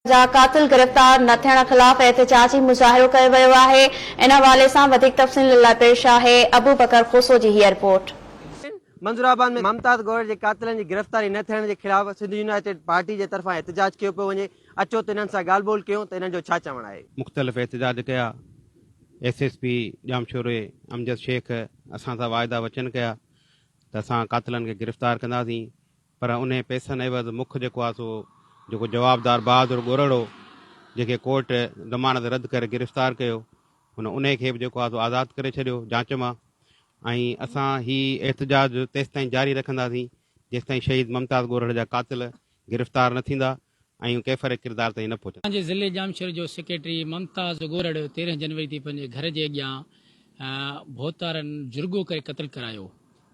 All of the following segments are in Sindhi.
جا قاتل گرفتار نه ٿيڻ خلاف احتجاجي مظاهرو ڪيو ويو آهي ان حوالي سان وڌيڪ تفصيلن لاء پيش آهي ابوبڪر کوسو جي هيء رپورٽ. منظورآباد ۾ ممتاز گوهر جي قاتلن جي گرفتاري نه ٿيڻ جي خلاف سنڌ يونائيٽيڊ پارٽي جي طرفان احتجاج ڪيو پيو وڃي اچو ته انهن سان ڳالهه ٻولهه ڪيون ته انهن جو ڇا چوڻ آهي. مختلف احتجاج ڪيا ايس ايس پي ڄامشوري امجد شيخ اسان سان واعدا وچن ڪيا ته اسان قاتلن کي گرفتار ڪنداسين. پر انهي پئسن عيوض مک جيڪو آ سو جيڪو جوابدار بهادر ڳورڙ هو، جنهن کي ڪورٽ ضمانت رد ڪري گرفتار ڪيو، هن انهي کي به جيڪو آ سو آزاد ڪري ڇڏيو جاچ مان ۽ اسان هي احتجاج تيستائين جاري رکنداسين جيستائين شهيد ممتاز ڳورڙ جا قاتل گرفتار نه ٿيندا. ۽ ڪيفر ڪردار تائين نه پهچندا. پنهنجي ضلعي ڄامشوري جو سيڪريٽري ممتاز ڳورڙ تيرهن جنوري تي پنهنجي گهر جي اڳيان ڀوتارن جرڳو ڪري قتل ڪرايو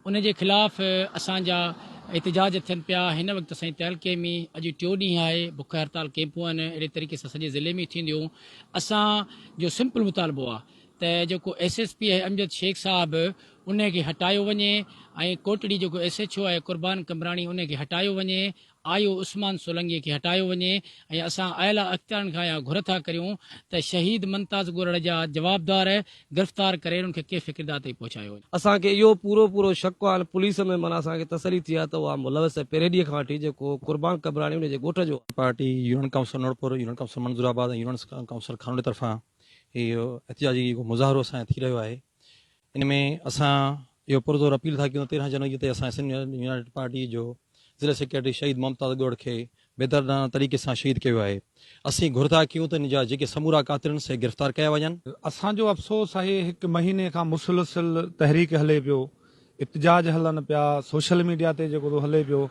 ان جي خلاف اسان جا احتجاج ٿين پيا هن وقت سائين تعلقي ۾ اڄ ٽيو ڏينهن آهي بک هڙتال ڪيمپون آهن اهڙي طريقي سان سڄي ضلعي ۾ ٿينديون اسان جو سمپل مطالبو آهي ته جيڪو ايس ايس پي آهي امجد شيخ صاحب ان کي هٽايو وڃي ۽ ڪوٽڙي جيڪو ايس ايڇ او آهي قربان قمبراڻي ان کي هٽايو وڃي آيو عثمان سولنگيء کي هٽايو وڃي ۽ اسان اعليٰ اختيارن کان اها گهر ٿا ڪريون ته شهيد ممتاز ڳورڙ جا جوابدار گرفتار ڪري انهن کي ڪيف فڪردا تائين پهچايو وڃي. اسان کي اهو پورو پورو شڪ هو هاڻي پوليس ۾ معنيٰ اسان کي تسلي ٿي آهي ته اها ملوث آهي پريڊيء کان وٺي جيڪو قربان قبراني انهيء جي ڳوٺ جو آهي. Party, union council Noorpur, union council Manzoorabad ۽ union council Khanwari طرفان هي احتجاجي جيڪو مظاهرو اسان جو ٿي رهيو آهي ان ۾ اسان اهو پرزور اپيل ٿا ڪيون ته تيرهن جنوري تي اسان سنڌ يونائيٽيڊ پارٽي جو ضلعي سيڪريٽري شهيد ممتاز ڳوڙ کي بيدردانه طريقي سان شهيد ڪيو ويو آهي اسين گهر ٿا ڪيون ته ان جا جيڪي سمورا قاتل آهن سي گرفتار ڪيا وڃن. اسان جو افسوس آهي هڪ مهيني کان مسلسل تحريڪ هلي پيو احتجاج هلن پيا سوشل ميڊيا تي جيڪو ٿو هلي پيو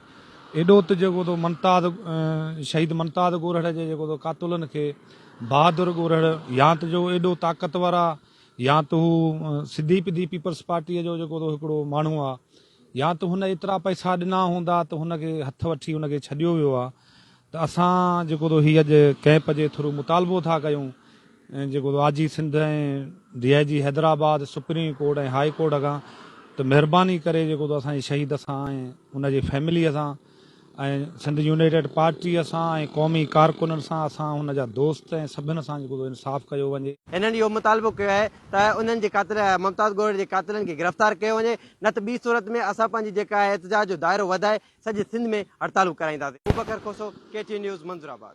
ايڏو ته جيڪو ٿو ممتاز شهيد ممتاز ڳورهڙ جي جيڪو ٿو قاتلن کي بهادر ڳورهڙ يا ته جو ايڏو طاقتور آهي يا ته هو سڌي پڌي پيپلز پارٽيء جو جيڪو هڪڙو ماڻهو آ يا ته هن ايترا پئسا ڏنا هوندا ته هن کي هٿ وٺي هن کي ڇڏيو ويو آ ته اسان جيڪو هي اڄ ڪئمپ جي ٿرو مطالبو ٿا ڪيون جيڪو I G Sindh ۽ D I G Hyderabad supreme court ۽ high court کان ته مهرباني ڪري جيڪو اسان جي شهيد سان ۽ ان جي فيمليء سان ۽ سنڌ يونائيٽيڊ پارٽيء سان ۽ قومي ڪارڪنن سان اسان هن جا دوست ۽ سڀن سان جيڪو ٿو انصاف ڪيو وڃي. هنن اهو مطالبو ڪيو آهي ته انهن جي قاتل ممتاز ڳوهڙ جي قاتلن کي گرفتار ڪيو وڃي نه ته ٻي صورت ۾ اسان پنهنجي جيڪا آهي احتجاج جو دائرو وڌائي سڄي سنڌ ۾ هڙتالون ڪرائينداسين. ابوبڪر کوسو، ڪي ٽي نيوز، منظور آباد.